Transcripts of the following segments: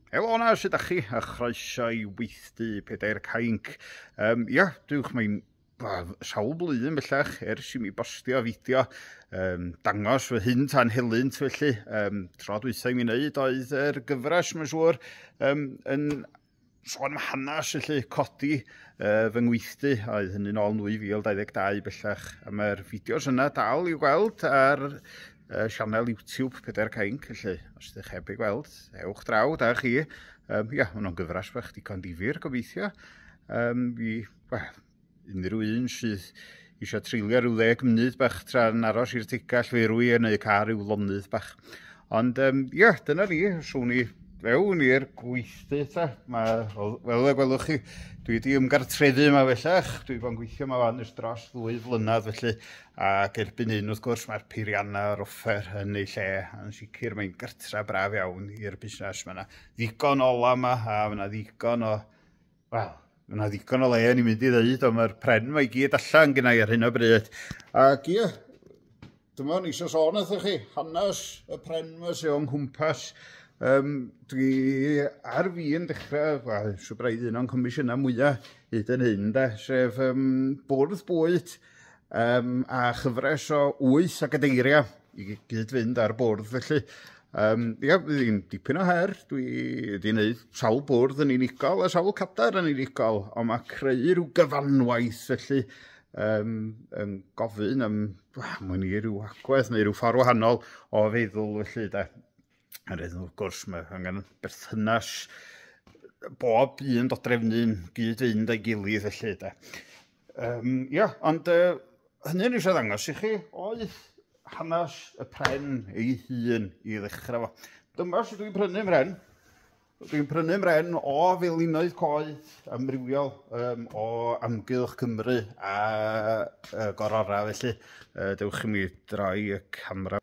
Helo na, sydd â chi, a chroeso i weithdy pedair cainc. Um, ia, dywch mae'n sawl blwyddyn bellach ers i mi bostio fideo um, dangos fy hyn tan helynt felly um, tro dwythau mi wneud oedd yr er gyfres mae'n siŵr um, yn sôn am hanes felly codi uh, fy ngweithdy a oedd hynny'n ôl 2022 bellach a mae'r fideos yna dal i'w gweld ar uh, sianel YouTube Pedair Cainc felly os ydych heb ei gweld ewch draw da chi um, ia, hwnnw'n gyfres bach digon difyr gobeithio um, fi, well, Unrhyw un sydd eisiau treulio rhyw ddeg munud bach tra'n aros i'r tigall ferwi yn eu car i'w lonydd bach. Ond, um, ia, dyna ni, swn i fewn i'r gweithdy ta. Mae, fel y gwelwch chi, dwi wedi ymgartrefu yma fellach. Dwi wedi bod yn gweithio yma fan ys dros ddwy flynedd felly. Ac erbyn hyn, wrth gwrs, mae'r peiriannau a'r offer yn ei lle. Yn sicr, mae'n gartra braf iawn i'r busnes. Mae yna ddigon o ola yma a mae yna ddigon o Wel, mae yna ddigon o le yn ei mynd i ddeud, ond mae'r pren mae i gyd allan gynnau ar hyn o bryd. Ac ie, dyma ni eisiau sôn wrthych chi, hanes y pren mae sy'n o'n cwmpas. Um, dwi ar fi yn dechrau, wel, siw braidd un o'n comisiynau mwyaf hyd yn hyn, da, sef um, bwrdd bwyd um, a chyfres o wyth o gadeiriau i gyd-fynd ar bwrdd felly. Um, ia, ddim dipyn o her, dwi wedi gwneud sawl bwrdd yn unigol a sawl cadar yn unigol, ond mae creu rhyw gyfanwaith felly um, yn gofyn am, mwyn i ryw agwedd neu ryw ffordd wahanol o feddwl felly da. Yr hyn wrth gwrs mae angen berthynas bob un dodrefnu'n gyd-fynd a'i gilydd felly da. Um, ia, ond uh, hynny ni eisiau ddangos i chi oedd hanes y pren ei hun i ddechrau fo. Dyma sydd dwi'n prynu mren. Dwi'n prynu mren o felinoedd coed amrywiol um, o amgylch Cymru a uh, gorora felly. Uh, dewch i mi droi y camera.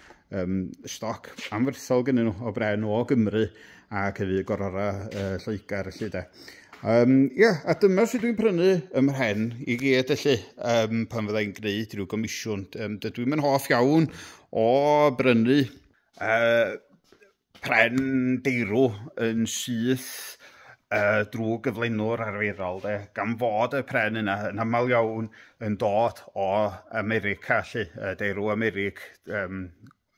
um, stoc anferthol gen nhw o bren o Gymru ac hefyd gorora uh, Lloegr felly de. Um, yeah, a dyma sut dwi'n prynu ym mhen i gyd felly um, pan fydda i'n gwneud rhyw gomisiwn. Um, dydw i'n hoff iawn o brynu uh, pren deirw yn syth uh, drwy gyflenwr arferol, de, gan fod y pren yna yn aml iawn yn dod o America, lle, uh, deirw Americ, um,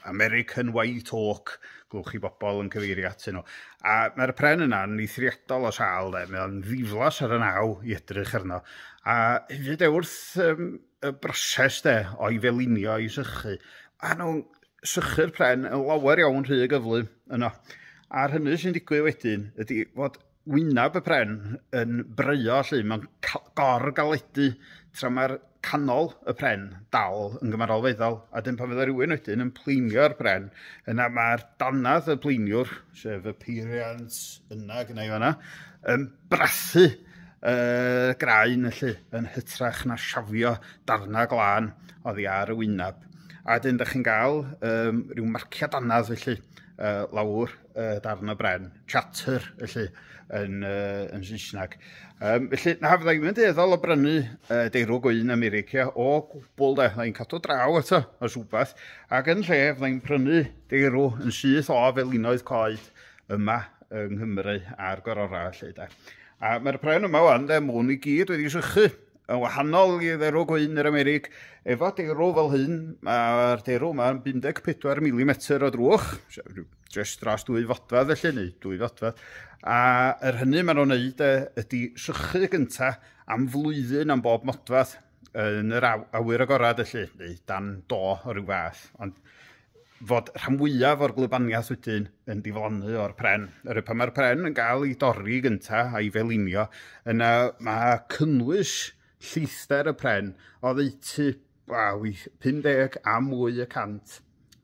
American White Oak, glwch chi bobl yn cyfeirio at nhw. A mae'r pren yna yn eithriadol o sal, de, mae o'n ddiflas ar y naw i edrych arno. A hefyd e wrth um, y broses de, o'i felinio i sychu, a nhw'n sychu'r pren yn lawer iawn rhy gyflym yno. A'r hynny sy'n digwydd wedyn ydy fod wyneb y pren yn breio lle mae'n gor-galedu tra mae'r canol y pren dal yn gymarol feddal. A dyn pan fydda rhywun wedyn yn pleinio'r pren, yna mae'r danadd y pleiniwr, sef y peiriant yna gyda i fanna, um, brathu uh, graen felly yn hytrach na siafio darnau glân oddi ar y wyneb. A dyn, da chi'n gael um, rhyw marciad anad felly uh, lawr uh, darn o bren, chatter felly yn, uh, yn Saesneg. Um, felly, na, fydda i'n mynd eddol o brynu uh, deirw gwyn America o gwbl de, fydda i'n cadw draw eto os rhywbeth, ac yn lle fydda i'n prynu deirw yn syth o fel unoedd coed yma yng Nghymru a'r gororau felly de. A mae'r pren yma wan de, mwn i gyd wedi sychu yn wahanol i dderw gwyn yr Amerig. Efo derw fel hyn, mae'r derw yma yn 14 mm o drwch, jyst dros dwy fodfad felly, neu dwy fodfad. A yr hynny maen nhw'n neud e, ydy sychu gyntaf am flwyddyn am bob modfad. yn yr aw- awyr agorad felly, neu dan do o ryw fath, ond fod rhan fwyaf o'r gwlybaniaeth wedyn yn diflannu o'r pren. Yr pan mae'r pren yn cael ei dorri gyntaf a'i felinio, yna mae cynnwys lleithder y pren oddeutu wel, 50 a mwy y cant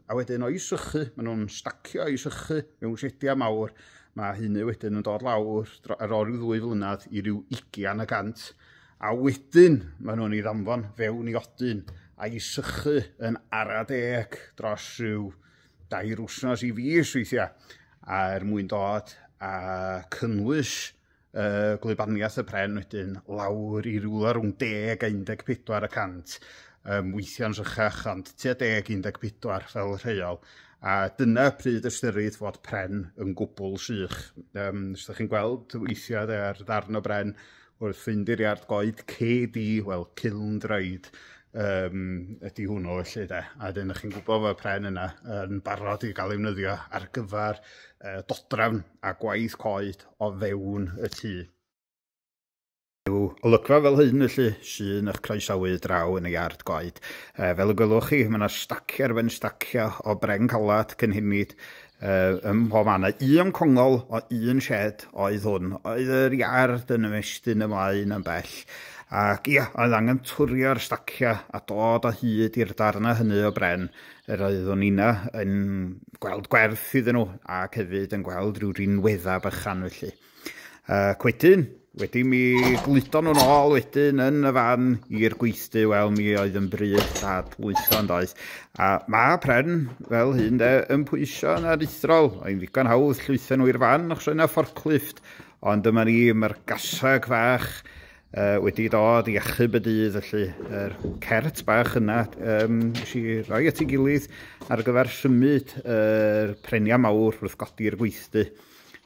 A wedyn o'i sychu, maen nhw'n stacio o'i sychu mewn sediau mawr. Mae hynny wedyn yn dod lawr ar ôl rhyw ddwy flynedd i ryw ugian y gant. A wedyn maen nhw'n ei ddanfon fewn i odyn a'i sychu yn ara deg dros rhyw dair wsnos i fis weithiau er mwyn dod a cynnwys uh, gwlybaniaeth y pren wedyn lawr i rywle rhwng 10 a 14 y cant, um, weithiau'n rhychach ond tua 10 14 fel rheol. A dyna pryd ystyrid fod pren yn gwbl sych. Um, os ydych chi'n gweld weithiau ar ddarn o bren wrth fynd i'r iard goed, cedi, wel, ciln draed, um, ydy hwnnw felly de. A wedyn ydych chi'n gwybod fod y pren yna yn barod i gael ei wnyddio ar gyfer uh, dodrafn a gwaith coed o fewn y tŷ. Yw olygfa fel hyn felly sy'n eich croesawu draw yn ei ard goed. Uh, fel y gwelwch chi, mae yna staciau ar ben staciau o bren calad, cynhenid, Ym mhob man, a un congol o un shed oedd hwn. Oedd yr iard yn ymestyn ymlaen yn bell, ac ia, oedd angen twrio'r stacia a dod o hyd i'r darnau hynny o bren yr oeddwn inna yn gweld gwerth iddyn nhw, ac hefyd yn gweld rhyw rinweddau bychan felly. Ac wedyn, wedi mi gludo nhw'n ôl wedyn yn y fan i'r gweithdy, wel mi oedd yn bryd dad lwytho yn doedd. A mae pren fel hyn de, yn pwysio yn aruthrol, oedd ddigon hawdd llwytho nhw i'r fan achos yna fforclifft, ond dyma ni, mae'r gasag fach uh, wedi dod i achub y dydd, felly yr er cert bach yna um, si roi at ei gilydd ar gyfer symud yr er prenia mawr wrth godi'r gweithdy.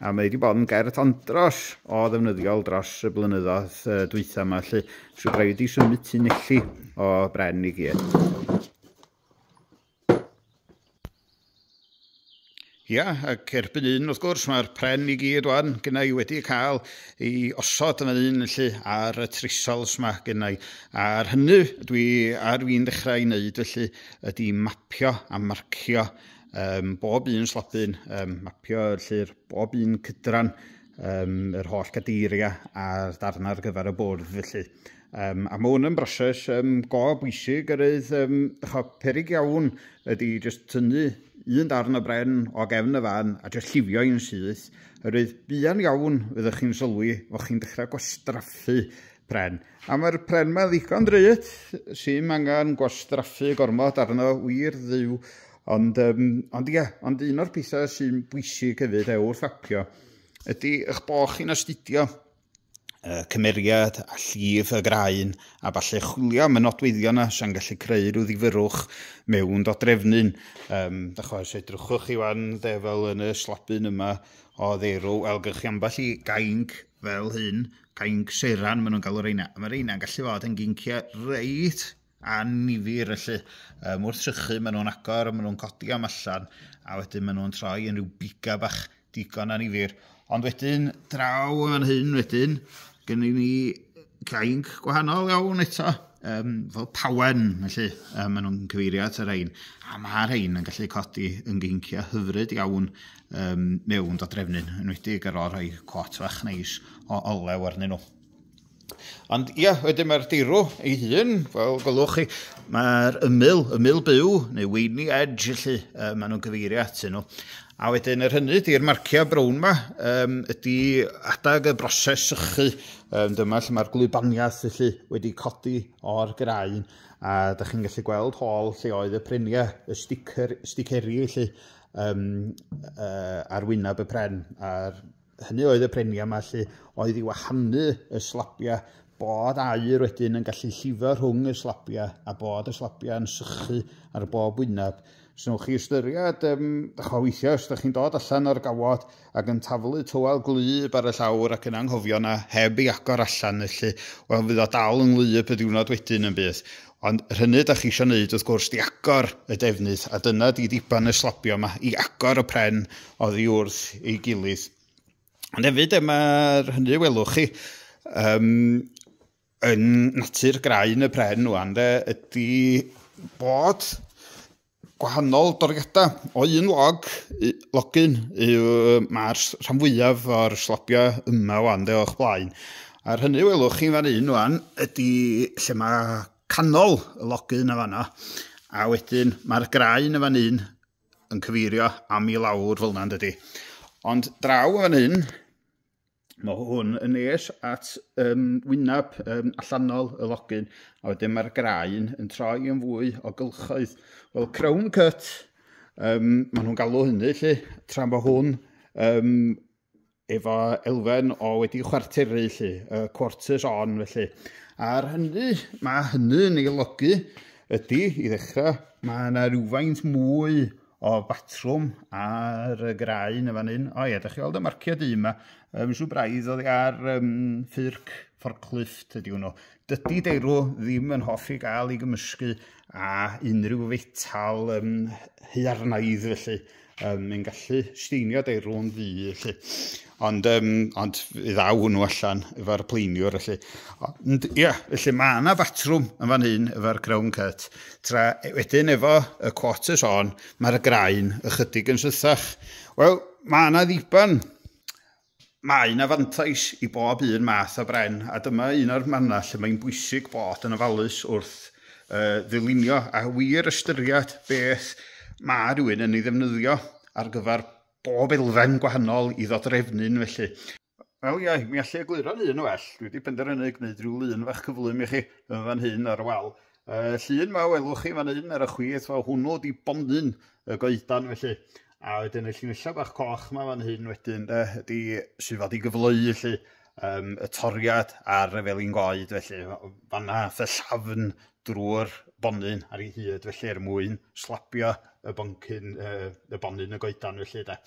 a mae wedi bod yn gerdd andros o ddefnyddiol dros y blynyddoedd uh, dwytha yma, lle sy'n rhaid wedi symud tu nelli o bren i gyd. Ia, ac erbyn un, wrth gwrs, mae'r pren i gyd o'n gynnau wedi cael ei osod yma un lle ar y trisols mae gynnau. A'r hynny dwi ar fi'n dechrau wneud felly ydy mapio a marcio Um, bob un slotyn, um, mapio lly'r bob un cydran, um, yr holl gadeiriau a'r darn ar gyfer y bwrdd felly. Um, a mae hwn yn broses um, go bwysig yr ydd, um, cho, perig iawn ydy jyst tynnu un darn o bren o gefn y fan a jyst lliwio i'n syth. Yr ydd buan iawn fyddwch chi'n sylwi fod chi'n dechrau gwastraffu pren. A mae'r pren ma'n ddigon drud, sy'n angen gwastraffu gormod arno, wir dduw. Ond, um, ond ie, ond un o'r pethau sy'n bwysig hefyd e, wrth apio, ydy eich bod chi'n astudio uh, cymeriad a llif y graen a falle chwilio am y nodweddion yna sy'n gallu creu rhyw ddifyrwch mewn dodrefnyn. Um, da chwa, os edrychwch chi fan dde fel yn y slabyn yma o ddeirw, wel, gych chi ambell i gainc fel hyn, Cainc seiran maen nhw'n galw reina. Mae reina'n gallu fod yn ginciau reit anifir felly. Um, wrth sychu maen nhw'n agor, maen nhw'n codi am allan a wedyn maen nhw'n troi yn rhyw biga bach digon anifir. Ond wedyn, draw yn hyn wedyn, gen i ni cainc gwahanol iawn eto, um, fel pawen, felly um, maen nhw'n cyfeirio at y rhain. A mae rhain yn gallu codi yn geinciau hyfryd iawn um, mewn da drefnyn, yn wedi ar ôl rhoi cwat fach neis o olew arnyn nhw. Ond ia, wedyn mae'r dirw ei hun, fel gwelwch chi, mae'r ymyl, ymyl byw, neu weini edge, felly, uh, maen nhw'n gyfeirio atyn nhw. A wedyn yr hynny, di'r marciau brown yma, um, ydy adag y broses sychu. Um, dyma lle mae'r glwybaniaeth felly wedi codi o'r graen a da chi'n gallu gweld hol lle oedd y preniau, y sticer, sticeri felly, um, uh, ar wyneb y pren, a'r hynny oedd y prenia yma lle oedd i wahanu y slabia bod air wedyn yn gallu llifo rhwng y slabia a bod y slabia yn sychu ar bob wyneb. Os wnewch chi ystyried, um, dych o weithio, os ydych chi'n dod allan o'r gawod, ac yn taflu tywel gwlyb ar y llawr ac yn anghofio 'na heb ei agor allan felly, wel fydd o dal yn wlyb y diwrnod wedyn yn bydd. Ond yr hynny 'da chi isio 'neud wrth gwrs 'di agor y defnydd a dyna 'di ddiban y slobio 'ma i agor y pren oddi wrth ei gilydd. Ond hefyd e, mae'r hynny welwch chi, um, yn natur graen y pren ŵan de, ydy bod gwahanol doriadau. O un log, logyn, yw mae'r rhan fwyaf o'r slobio yma ŵan de o'ch blaen. A'r hynny welwch chi'n fan un ŵan ydy lle mae canol y logyn y fanna. A wedyn mae'r graen y fan un yn cyfeirio am i lawr fel yna dydy. Ond draw y fan un, Mae hwn yn nes at um, wyneb um, allanol y login, a wedyn mae'r graen yn troi yn fwy o gylchoedd. Wel, crown cut, um, maen nhw'n galw hynny, lle, tra mae hwn um, efo elfen o wedi chwarteru, lle, uh, quarters on, felly. Ar hynny, mae hynny yn ei logu ydy, i ddechrau, mae yna rhywfaint mwy o batrwm ar y graen yn fan hyn. O ie, da chi weld y marciau du yma. Um, Siw braidd oedd ar um, ffyrc fforclift ydy hwnnw. Dydy deirw ddim yn hoffi gael ei gymysgu a unrhyw fetal um, hyarnaidd felly. Um, yn gallu steinio deirw yn ddu felly. Ond, um, ond ddaw hwnnw allan efo'r pleiniwr, felly. Ond, ia, yeah, felly mae yna fatrwm yn fan hyn efo'r crown cut. Tra e, wedyn efo y quarters on, mae'r graen ychydig yn sythach. Wel, mae yna ddiban mae yna fantais i bob un math o bren, a dyma un o'r mannau lle mae'n bwysig bod yn ofalus wrth uh, ddylunio a wir ystyried beth mae rhywun yn ei ddefnyddio ar gyfer bob elfen gwahanol i ddodrefnu'n felly. Wel ie, mi allu egluro'n un yn well. Dwi wedi penderfynu gwneud rhyw lun fach cyflym i chi yn fan hyn ar y wal. Uh, llun ma welwch chi fan hyn ar y chwith, wel hwnnw di bonyn y goedan felly. A wedyn y llinellau bach coch ma fan hyn wedyn de, ydy sydd fod i gyfleu felly um, y toriad ar y felin goed felly. Fanna fy llafn drwy'r bonyn ar ei hyd felly er mwyn slabio y boncyn uh, y bonyn y goedan felly de.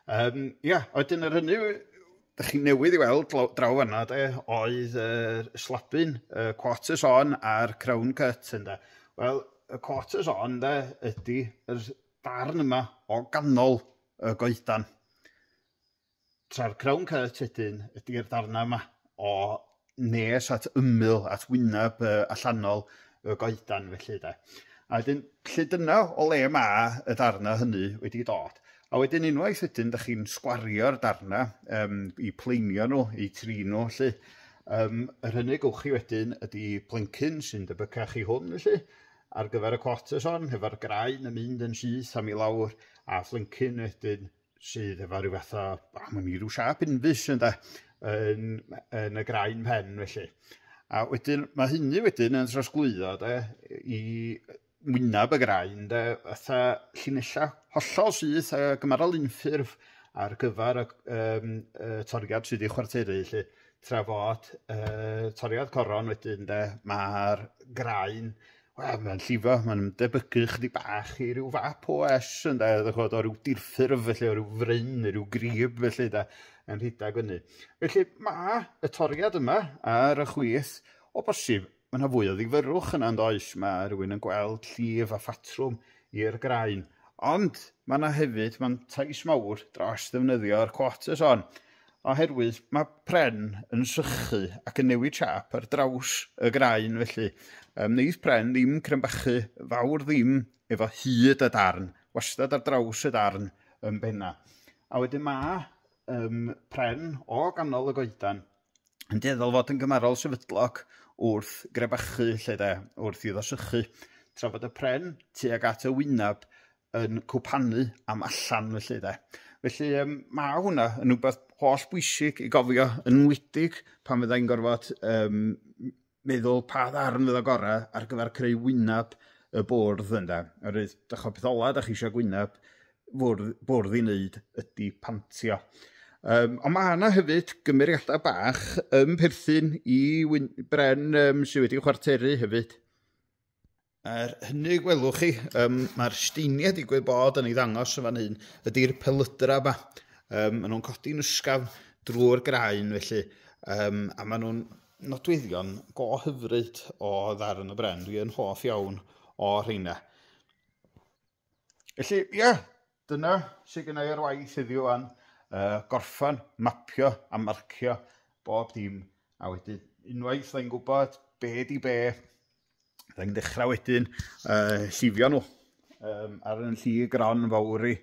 Um, ia, oedyn yr hynny Dych chi newydd i weld draw fanna de, oedd yr uh, slabyn, uh, quarters on a'r crown cut ynda. Wel, y quarters on de ydy yr darn yma o ganol y goedan. Tra'r crown caeth tedyn ydy'r darnau yma o nes at ymyl at wyneb uh, allanol y goedan felly de. A wedyn, lle dyna o le mae y darnau hynny wedi dod. A wedyn unwaith wedyn, da chi'n sgwario'r darnau um, i pleinio nhw, i tri nhw, lle. Um, yr hynny gwych chi wedyn ydy plencyn sy'n debycach i hwn, felly, ar gyfer y cwot y son, hefo'r graen yn mynd yn syth am i lawr, a phlencyn wedyn sydd efo rhyw fath o, oh, mae'n rhyw siap unfus ynda, yn, yn y graen pen felly. A wedyn, mae hynny wedyn yn trosglwyddo de, i wynaf y graen, de, fatha llinellau hollol syth a gymarol unffurf ar gyfer y, um, y toriad sydd ei chwarteru, lle trafod uh, toriad coron wedyn, de, mae'r graen Wel, mae'n llifo, mae'n debygu chydig bach i ryw fap OS yn da, ddech chibod, o ryw dirffurf felly, o ryw fryn neu ryw grib felly da, yn rhedeg fyny. Felly mae y toriad yma ar y chwith, o bosib, mae yna fwy o ddifyrwch yna yn does, mae rhywun yn gweld llif a phatrwm i'r graen. Ond mae yna hefyd, mae'n tais mawr dros ddefnyddio'r quarters hon. Oherwydd mae pren yn sychu ac yn newid siâp ar draws y graen felly yy wneith pren ddim crynbachu fawr ddim efo hyd y darn, wastad ar draws y darn yn benna. A wedyn mae um, pren o ganol y goedan yn dueddol fod yn gymarol sefydlog wrth grebachu lle de, wrth iddo sychu, tra bod y pren tuag at y wyneb yn cwpanu am allan felly de. Felly um, mae hwnna yn rhywbeth holl bwysig i gofio yn wydig pan fydda i'n gorfod um, meddwl pa ddarn fydda gorau ar gyfer creu wyneb y bwrdd ynda. Oherwydd, da chi'n peth ola, da chi eisiau gwyneb bwrdd, bwrdd i wneud ydy pantio. Um, ond mae yna hefyd gymeriadau bach yn perthyn i wyn, bren um, sydd wedi chwarteru hefyd. Er hynny, gwelwch chi, um, mae'r steiniau digwydd bod yn ei ddangos yn fan hyn, ydy'r pelydra yma. Um, maen nhw'n codi'n ysgafn drwy'r graen felly, um, a maen nhw'n nodweddion go hyfryd o ddarn y bren. Dwi yn hoff iawn o rheina. Felly, ie, yeah, dyna sydd gennau ar waith heddiw o'n uh, gorffan, mapio a marcio bob dim. A wedyn, unwaith dda'n gwybod be di be, dda'n dechrau wedyn uh, llifio nhw um, ar yn lli gron fawr i,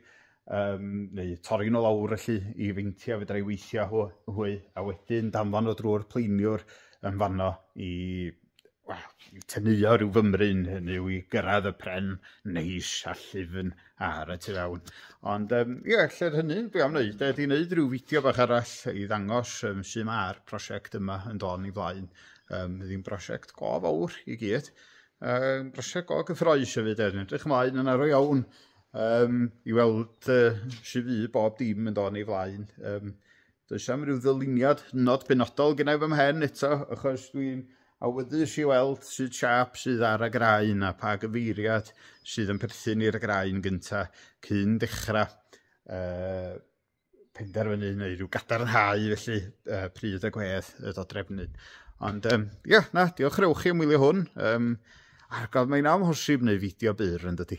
um, neu torri nhw lawr felly i feinti a fydra i weithio hwy, a wedyn danfon nhw drwy'r pleiniwr yn fanno i wel, teneuo rhyw fymryn, hynny yw i gyrraedd y pren neis a llifn ar y tu fewn. Ond um, ie, yeah, lle'r hynny, dwi am wneud, ydy wneud rhyw fideo bach arall i ddangos um, sy'n ma'r prosiect yma yn dod i flaen. Um, ddim prosiect go fawr i gyd, um, prosiect go gyffroes hefyd, er, edrych ymlaen yn arw iawn um, i weld uh, sy'n fydd bob dim yn dod i flaen. Um, Does am ryw ddyluniad hynod benodol gynnau fy mhen eto, achos dwi'n awyddus i weld sydd siap sydd ar y graen a pa gyfeiriad sydd yn perthyn i'r graen gyntaf cyn dechrau uh, penderfynu neu rhyw gadarnhau felly uh, pryd y gwedd y dodrefnu. Ond um, yeah, na, diolch rewch chi am wylio hwn. Um, argof mae'n amhosib neu fideo byr yn dydy.